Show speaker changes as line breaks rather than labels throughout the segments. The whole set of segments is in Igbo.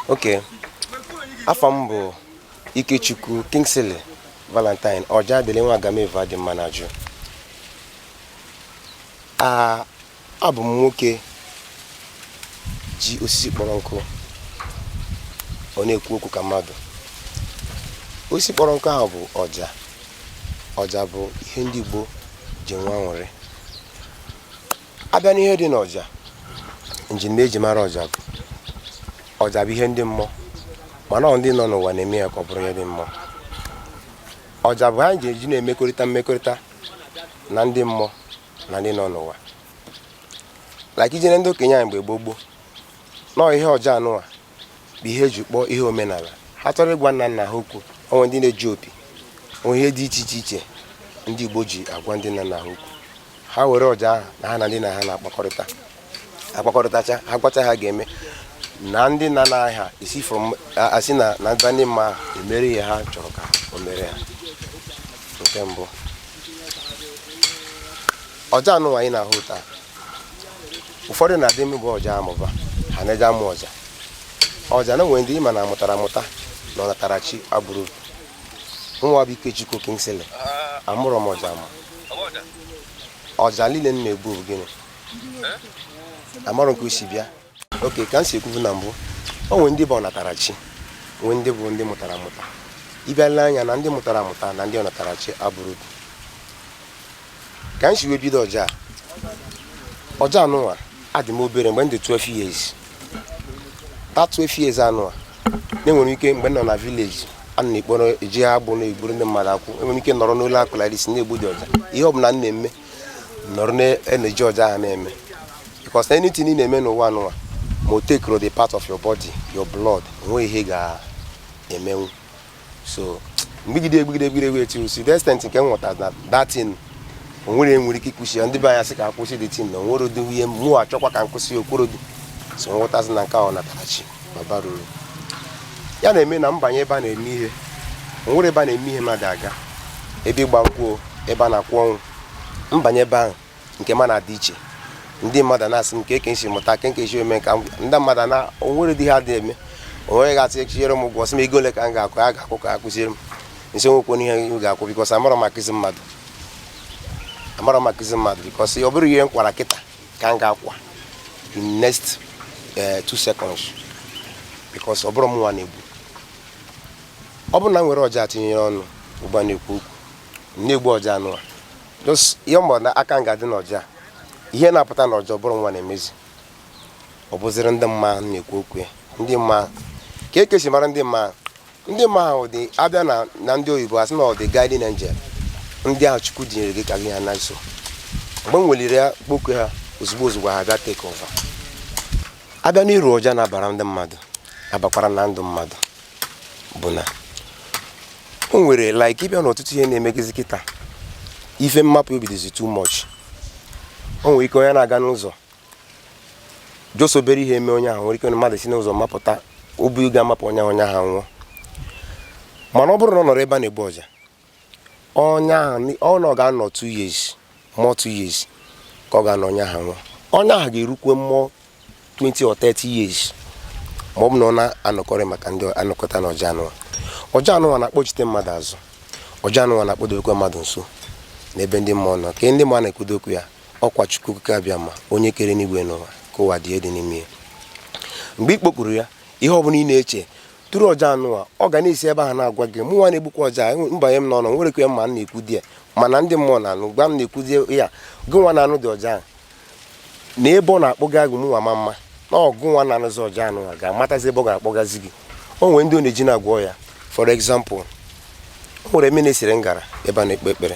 okay afa m bụ ikechukwu kingsley valentine ọjadịlị nwa agamevu adị mma na ajụ Abụ m nwoke ji osisi kpọrọ nkụ ọ na-ekwu okwu ka mmadụ osisi kpọrọ nkụ ahụ bụ ọja ọja bụ ihe ndị Igbo ji enwe aṅụrị abịa n'ihe dị n'ọja njiri m ji mara ọja bụ ọja bụ ihe ndị mmụọ mana ọ ndị nọ n'ụwa na-eme ya ka ọ bụrụ ihe ndị mmụọ ọja bụ ha ji eji na-emekọrịta mmekọrịta na ndị mmụọ na ndị nọ n'ụwa like i jee na ndị okenye anyị mgbe gboo gboo na ọ ihe ọja anụwa bụ ihe eji kpọọ ihe omenala ha chọrọ ịgwa nna nna ha okwu o nwere ndị na-eji opi o nwee ihe dị iche iche iche ndị Igbo ji agwa ndị nna nna ha okwu ha were ọja ahụ na ha na ndị nna ha na-akpakọrịta akpakọrịtacha ha gwacha ha ga-eme na ndị nna nna ha isi from asị na na ndị ndị mmụọ emere ihe ha chọrọ ka o mere ha nke mbụ ọja anụwa anyị na-ahụ taa ụfọdụ na-adị ama egbu ọja amụba ha na-eje amụ ọja ọja na nwere ndị ịma na amụtara amụta na ọnatarachi abụrọ nwa bụ Ikechukwu Kingsley amụrọ m ọja amụ ọja niile m na-egbu bụ gịnị amarọ m ka o si bịa okay ka m si ekwubu na mbụ o nwere ndị bụ ọnatarachi nwee ndị bụ ndị mụtara amụta ị bịa lee anya na ndị mụtara amụta na ndị ọnatarachi abụrọ otu ka m si wee bido ọja ọja anụnwa adị m obere mgbe m dị 12 years that 12 years anụnwa na-enwere ike mgbe m nọ na village a na-ekpọrọ eji agbụ na-egburu ndị mmadụ akwụ enwere ike nọrọ n'ụlọ akụlarisi na-egbu dị ọja ihe ọ bụla m na-eme nọrọ na-eneji ọja ha na-eme because anything ị na-eme n'ụwa anụwa ma o takerọ the part of your body your blood onweghị ihe ga-emenwu so m gbugide egbugide egbugide egbugide till si the extent nke m ghọtara na that thing onwerọ nwere ike ịkwụsị ya ndị be anyị sị ka m kwụsị the thing na onwere ụdị ihe mụ achọkwa ka m kwụsị ya o kwerọdị so m ghọtazie na nke a bụ ọnatarachi ma bara uru ya na-eme na m banye ebe a na-eme ihe nwere ebe a na-eme ihe mmadụ aga ebe ịgba nkwụ ebe a na-akwa ọnwụ m banye ebe ahụ nke m na-adị iche ndị mmadụ na-asị m kee ka m si mụta kee ka m si eme ka ndị mmadụ na onwere ụdị ha dị eme onwere ga-asị echinyere m ụgwọ sị m ego ole ka m ga-akwụ a ga-akwụ ka akụziere m m sị nwekwọ n'ihe m ga-akwụ because amarọ m akụzi mmadụ amarọ m akụzi mmadụ because ọ bụrụ ihe m kọwara kịta ka m ga-akwa in next eh, two seconds because ọ bụrụ mụnwa na-egbu ọ bụrụ na m were ọja tinyere ọnụ ugbu a na-ekwu okwu m na-egbu ọja anụwa just ihe mgbe na aka m ga-adị n'ọja ihe na-apụta n'ọja ọ bụrụ mụnwa na-emezi ọ bụziri ndị mma na-ekwu okwu ya ndị mma ka e kesi mara ndị mma ndị mma ahụ dị abịa na na ndị oyibo asị na ọ dị guiding angel ndị ahụ chukwu dinyere gị ka gị ha na nso mgbe m weliri ya kpoku ha ozugbo ozugbo ha bịa take over a bịa n'uru ọja na-abara ndị mmadụ abakwara na ndụ mmadụ bụ na o nwere like ị bịa n'ọtụtụ ihe na-emegezi kịta ife mmapụ obi dịzi too much o nwere ike onye na-aga n'ụzọ just obere ihe eme onye ahụ nwere ike mmadụ si n'ụzọ mapụta obi ga-amapụ onye onye ahụ nwụọ mana ọ bụrụ na ọ nọrọ ebe a na-egbu ọja onye ahụ ọ na ọ ga-anọ two years more two years ka ọ ga-anọ onye ahụ nwụọ onye ahụ ga-erukwe more 20 or 30 years ma ọ bụ na ọ na-anọkọrị maka ndị anọkọta na ọja anụwa ọja anụwa na-akpọchite mmadụ azụ ọja anụwa na-akpọdokwe mmadụ nso n'ebe ndị mmụọ nọ ka ndị mmụọ na-ekwudo okwu ya Ọkwa Chukwu Okike Abịama, onye kere enigwe na ụwa, ka ụwa dị dị n'ime ya. Mgbe ị kpọkuru ya, ihe ọ bụla ị na-eche through ọja anụwa ọ ga na-esi ebe ahụ na-agwa gị mụnwa na-egbukwa ọja mbanye m n'ọnụ nwere ike ma m na-ekwu di ya mana ndị mmụọ na-anụ gwa m na-ekwuzi ya gị nwa na-anụ dị ọja ahụ na ebe ọ na-akpọga gị mụnwa ma mma na ọ gị nwa na-anụzi ọja anụwa ga-amatazi ebe ọ ga-akpọgazi gị o nwere ndị ọ na-eji na-agwọ ọya for example o nwere eme na-esere ngara ebe a na-ekpe ekpere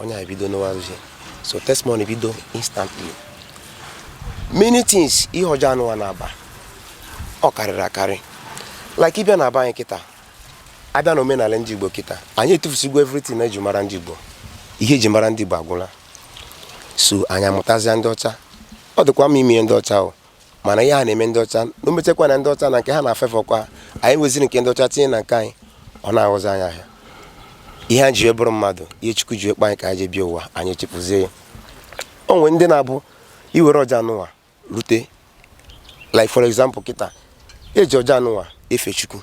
onye ahụ bido nụwa ozi so testimony bido instantly many things ihe ọja anụwa na-aba ọ karịrị akarị like ị bịa na be anyị kịta abịa na omenala ndị Igbo kịta anyị etufusigo everything na eji mara ndị Igbo ihe eji mara ndị Igbo agwụla so anyị amụtazịa ndị ọcha ọ dịkwa mma ime ihe ndị ọcha o mana ihe ha na-eme ndị ọcha na o mechakwa na ndị ọcha na nke ha na-afefọkwa anyị weziri nke ndị ọcha tinye na nke anyị ọ na-aghọzi anyị ahịa ihe anyị ji wee bụrụ mmadụ ihe chukwu ji wee kpụ anyị ka anyị ji bịa ụwa anyị echefuzie ya o nwere ndị na-abụ i were ọja anụnwa rute like for example kịta eji ọja anụnwa efe chukwu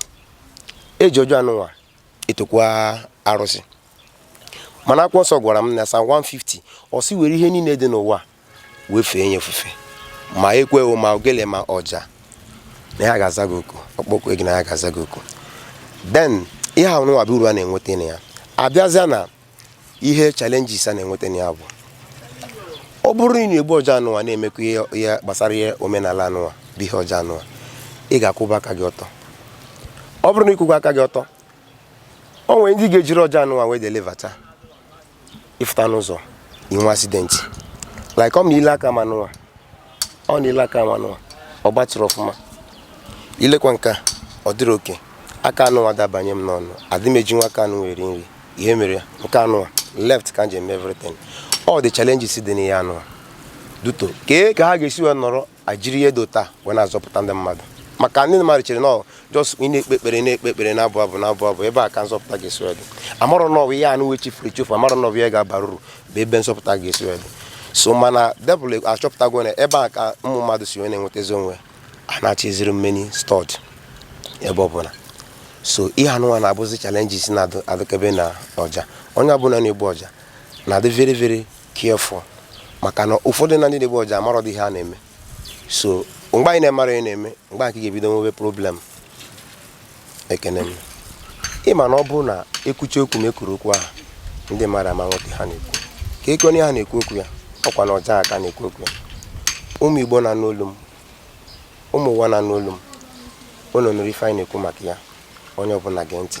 eji ọja anụnwa etokwa arụsị mana akwụkwọ nsọ gwara m na Psalm 150 ọ sị were ihe niile dị n'ụwa wee fee ya ofufe ma ekwe ma ogele ma ọja na ya ga-aza gị oku ọkpọkwe gị na ya ga-aza gị oku then ihe ahụ nwa bụ uru a na-enweta na ya abịazịa na ihe challenges a na-enweta na ya bụ ọ bụrụ na ị na-egbu ọja anụwa na-emekwa ihe gbasara ihe omenala anụwa bụ ihe ọja anụwa ị ga-akwụba aka gị ọtọ ọ bụrụ na ị kwụba aka gị ọtọ o nwere ndị ị ga-ejiri ọja anụwa wee delivata ịfụta n'ụzọ inwe accident like ọ ma i le aka m anụwa ọ na i le aka m anụwa ọ gbatịrọ ọfụma i lekwa nke a ọ dịrị okay aka anụwa adị abanye m n'ọnụ adị m eji nwa aka anụwa eri nri ihe mere ya nke anụwa left ka m ji eme everything all the challenges dị n'ihe anụwa due to kee ka ha ga-esi wee nọrọ a jiri ihe dị otu a wee na-azọpụta ndị mmadụ maka ndị mmadụ chere na just ị na-ekpe ekpere na-ekpe ekpere na-abụ abụ na-abụ abụ ebe a ka nzọpụta ga-esi wee dị amarọ na ọ bụ ihe anụwa e chefuru echefu amarọ na ọ bụ ihe ga-abara uru bụ ebe nzọpụta ga-esi wee dị so mana devil achọpụtago na ebe a ka ụmụ mmadụ si wee na-enwetazi onwe ha na-achọ eziri mmeni stọd ebe ọbụla so ihe anụnwa na-abụzi challenges na-adịkebe na ọja onye ọbụla na-egbu ọja na-adị very very careful maka na ụfọdụ na ndị na-egbu ọja amarọdị ihe ha na-eme so mgbe ị na-amarọ ihe ị na-eme mgbe ahụ ka ị ga-ebido nwebe problem ekene m ị ma na ọ bụrụ na e kwuchaa okwu ma ekwuru okwu ahụ ndị mmadụ ama nghọta ihe a na-ekwu ka eke onye ha na-ekwu okwu ya ọkwa na ọja ka a na-ekwu okwu ya ụmụ igbo na-anụ olu m ụmụ ụwa na-anụ olu m unu nụrụ ife anyị na-ekwu maka ya onye ọbụla gee ntị